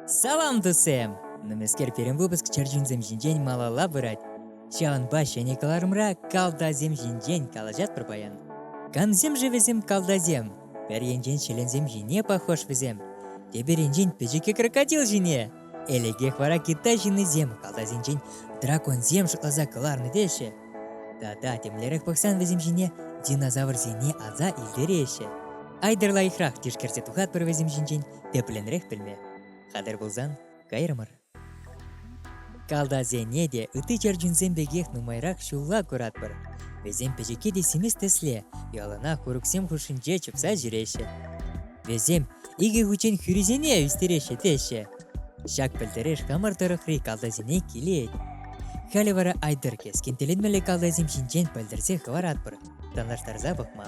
Салам тусем! Нумайскер пирӗн выпуск чӗрчунсем ҫинчен малалла пырать. Ҫавӑнпа ҫӗнӗ кӑларӑмра калтасем ҫинчен калаҫатпӑр паян. Камсем ши вӗсем калтасем? Пӗр енчен ҫӗленсем ҫине пахош вӗсем. Тепӗр енчен пӗчӗккӗ крокодил ҫине. Элӗкех вара Китай ҫыннисем калтасенчен драконсем шутласа кӑларнӑ теҫҫӗ. Тата темлерех пӑхсан вӗсем ҫине динозаврсене аса илтереҫҫӗ. Айдер лайӑхрах тишкерсе тухатпӑр вӗсем ҫинчен, тӗплӗнрех пӗлме. Хатӗр пулсан, кайрӑмӑр. Калдасене те ытти чӗрчунсем пекех нумайрах ҫулла куратпӑр. Вӗсем пӗчӗкки те симес тӗсле яланах курӑксем хушшинче чупса ҫӳреҫҫӗ. Вӗсем икӗ хутчен хӳрисене ӳстереҫҫӗ теҫҫӗ. Ҫак пӗлтереш хамӑр тӑрӑхри калтасене килет. Халӗ вара Айдыр кескин тӗлӗнмелле калтасем ҫинчен пӗлтерсе хӑваратпӑр, танлаштарса пӑхма.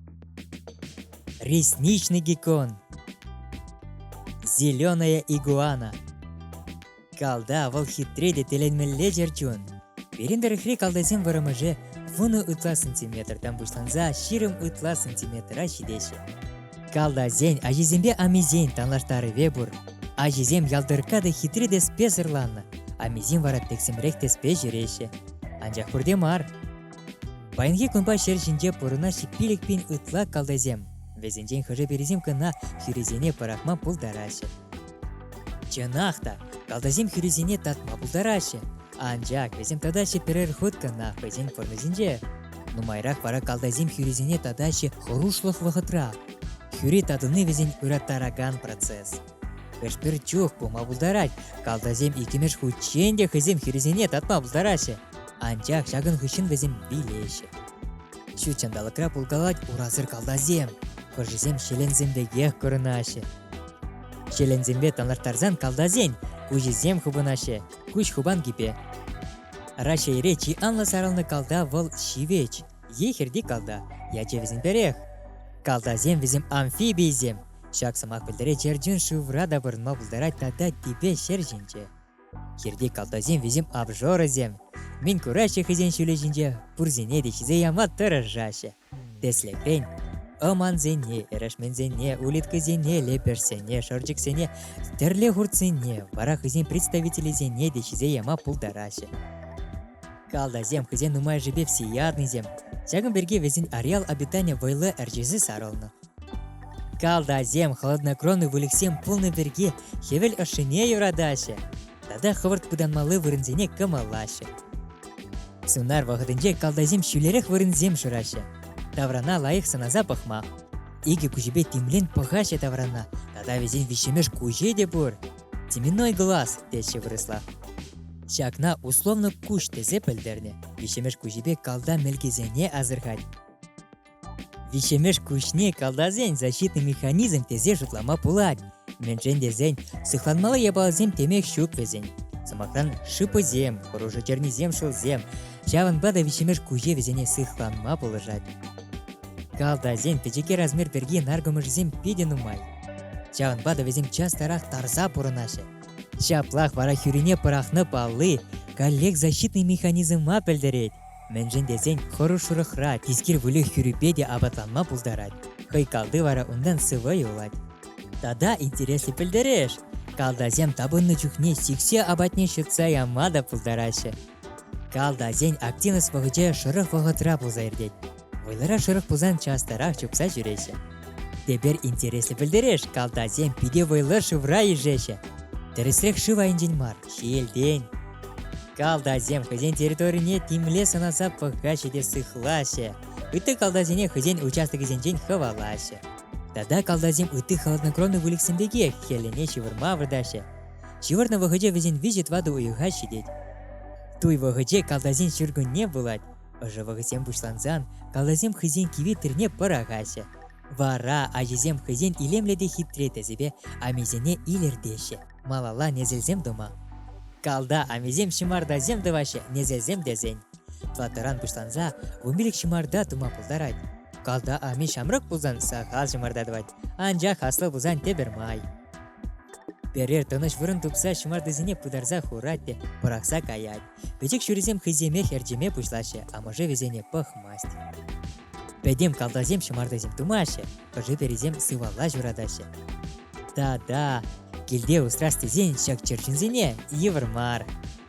ресничный геккон зеленая игуана калта вӑл хитре те тӗлӗнмелле чӗрчун пирӗн тӑрӑхри калтасем вӑрӑмӑшӗ вунӑ ытла сантиметртан пуҫланса ҫирӗм ытла сантиметра ҫитеҫҫӗ калтасен ачисемпе амисен танлаштарӑвӗ пур ачисем ялтӑркка та хитре те спесӑрланнӑ амисем вара тӗксӗмрех тӗспе ҫӳреҫҫӗ анчах пурте мар Паянхи кунпа ҫӗр ҫинче пурӑнас пилӗк пин ытла калтайсем. Вӗсенчен хӑшӗ-пӗрисем кӑна хӳрисене пӑрахма пултараҫҫӗ. Чӑнах та, калтайсем хӳрисене татма пултараҫҫӗ. Анчах вӗсем татаҫҫӗ пӗрер хут кӑна хӑйсен формисенче. Нумайрах вара калтайсем хӳрисене татаҫҫӗ хӑрушлӑх вӑхӑтра. Хӳри татӑни вӗсен ыраттаракан процесс. Пӗр-пӗр чух пулма пултарать. Калтасем иккӗмӗш хутчен те хӑйсем хирӗсене татма пултараҫҫӗ. Анчах ҫакӑн хыҫҫӑн вӗсем вилеҫҫӗ. Ҫут ҫанталӑкра пулкалать урасӑр калтасем. Хӑшӗсем ҫӗленсем пекех курӑнаҫҫӗ. Ҫӗленсемпе танлаштарсан калтасен куҫӗсем хупӑнаҫҫӗ, куҫ хупанкипе. Раҫҫейре чи анлӑ сарӑлнӑ калта вӑл ҫивӗч е хирти калта, ячӗ вӗсен пӗрех. Калтасем вӗсем амфибийӗсем, Ҫак сӑмах пӗлтерет Ертӳн шывра та пурӑнма пултарать тата типе ҫӗр ҫинче. Хирти калтасем вӗсем обжорӑсем. Мӗн кураҫҫӗ хӑйсен ҫулӗ ҫинче, пурсене те ҫисе яма тӑрӑшаҫҫӗ. Тӗслӗхрен, ӑмансене, эрешменсене, улиткӑсене, лепешсене, шӑрчӑксене, тӗрле хуртсене, вара хӑйсен представителӗсене те ҫисе яма пултараҫҫӗ. Калтасем хӑйсен нумайӑшӗпе всеяднӑйсем. Ҫакӑн пирки вӗсен ареал обитанийӗ вӑйлӑ ӗрчесе сарӑлнӑ. Калтасем хладнокровный выльӑхсем пулнӑ пирки хӗвел ӑшшине юратаҫҫӗ тата хӑвӑрт пытанмалли вырӑнсене кӑмӑллаҫҫӗ. Сунар вӑхӑтӗнче калтасем ҫӳлерех вырӑнсем шыраҫҫӗ. Таврана лайӑх сӑнаса пӑхма. Икӗ куҫӗпе тимлен пӑхаҫҫӗ таврана тата вӗсен виҫҫӗмеш куҫӗ те пур. Теменной глаз, теҫҫӗ вырӑсла. Ҫакна условно куҫ тесе пӗлтернӗ. Виҫҫӗмеш куҫӗпе калта мелкесене асӑрхать. Виҫҫӗмӗш куҫне калтасен защитный механизм тесе шутлама пулать. Мӗншӗн тесен сыхланмалла япаласем темех ҫук вӗсен. Сӑмахран, шипӑсем, хӑрушӑ чернисем шӑлсем. Ҫавӑнпа та виҫҫӗмӗш куҫе вӗсене сыхланма пулӑшать. Калтасен пӗчӗке размер пирки наркӑмӑшӗсем питӗ нумай. Ҫавӑнпа та вӗсем частарах тарса пурӑнаҫҫӗ. Ҫаплах вара хӳрине пӑрахнӑ палли коллег защитный механизма пӗлтерет. Мӗншӗн тесен хӑрушрӑхра тискер выльӑх хӳрипе те апатланма пултарать. Хӑй калти вара унтан сывӑ юлать. Тата интереслӗ пӗлтереш, калтасем тапӑннӑ чухне сиксе апатне ҫӑтса яма та пултараҫҫӗ. Калтасен активность вӑхӑчӗ шӑрӑх вӑхӑтра пулса иртет. Вӑйлӑра шӑрӑх пулсан частарах чупса ҫӳреҫҫӗ. Тепер интереслӗ пӗлтереш, калтасем питӗ вӑйлӑ шывра ишеҫҫӗ. Тӗрӗсрех шыв айӗнчен мар, ҫиелтен. Калтасем хӑйсен территорине тимле сӑнаса пӑхаҫҫӗ те сыхлаҫҫӗ, ытти калтасене хӑйсен участокӗсенчен хӑвалаҫҫӗ. Тата калтасем ытти холоднокровный выльӑхсем пекех хӗлӗне ҫывӑрма выртаҫҫӗ. Ҫывӑрнӑ вӑхӑтӗ вӗсен виҫӗ-тӑватӑ уйӑха ҫитет. Туй вӑхӑчӗ калтасен ҫуркунне пулать. Ӑшӑ вӑхӑтсем пуҫлансан калтасем хӑйсен киви тӗрне пӑрахаҫҫӗ. Вара ачисем хӑйсен илемлӗ те хитре тӗсӗпе амисене илӗртеҫҫӗ. малалла несӗлсем тума. Калта амисем ҫӑмартасем тӑваҫҫӗ несӗлсем тесен. Платӑран пуҫланса вунпилӗк ҫӑмарта тума пултарать. Калта ами ҫамрӑк пулсан сахал ҫӑмарта тӑвать, анчах аслӑ пулсан тепӗр май. Пӗрер тӑнӑҫ вырӑн тупса ҫӑмартасене пытарса хурать те пӑрахса каять. Пӗчӗк ҫурисем хӑйсемех ӗрчеме пуҫлаҫҫӗ, амӑшӗ вӗсене пӑхмасть. Пӗтӗм калтасем ҫӑмартасем тумаҫҫӗ, хӑшӗ-пӗрисем сывалла ҫуратаҫҫӗ. Та-да, килте усрас тесен ҫак чӗрчунсене йывӑр мар.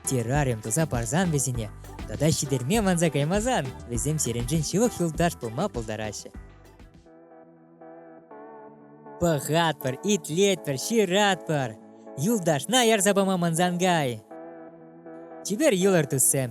Террариум туса парсан вӗсене тата ҫитерме манса каймасан вӗсем сирӗншӗн ҫывӑх юлташ пулма пултараҫҫӗ. Пӑхатпӑр, итлетпӗр, ҫыратпӑр. Юлташна ярса пама мӑнсангай. Чипер йӑлӑр, туссем.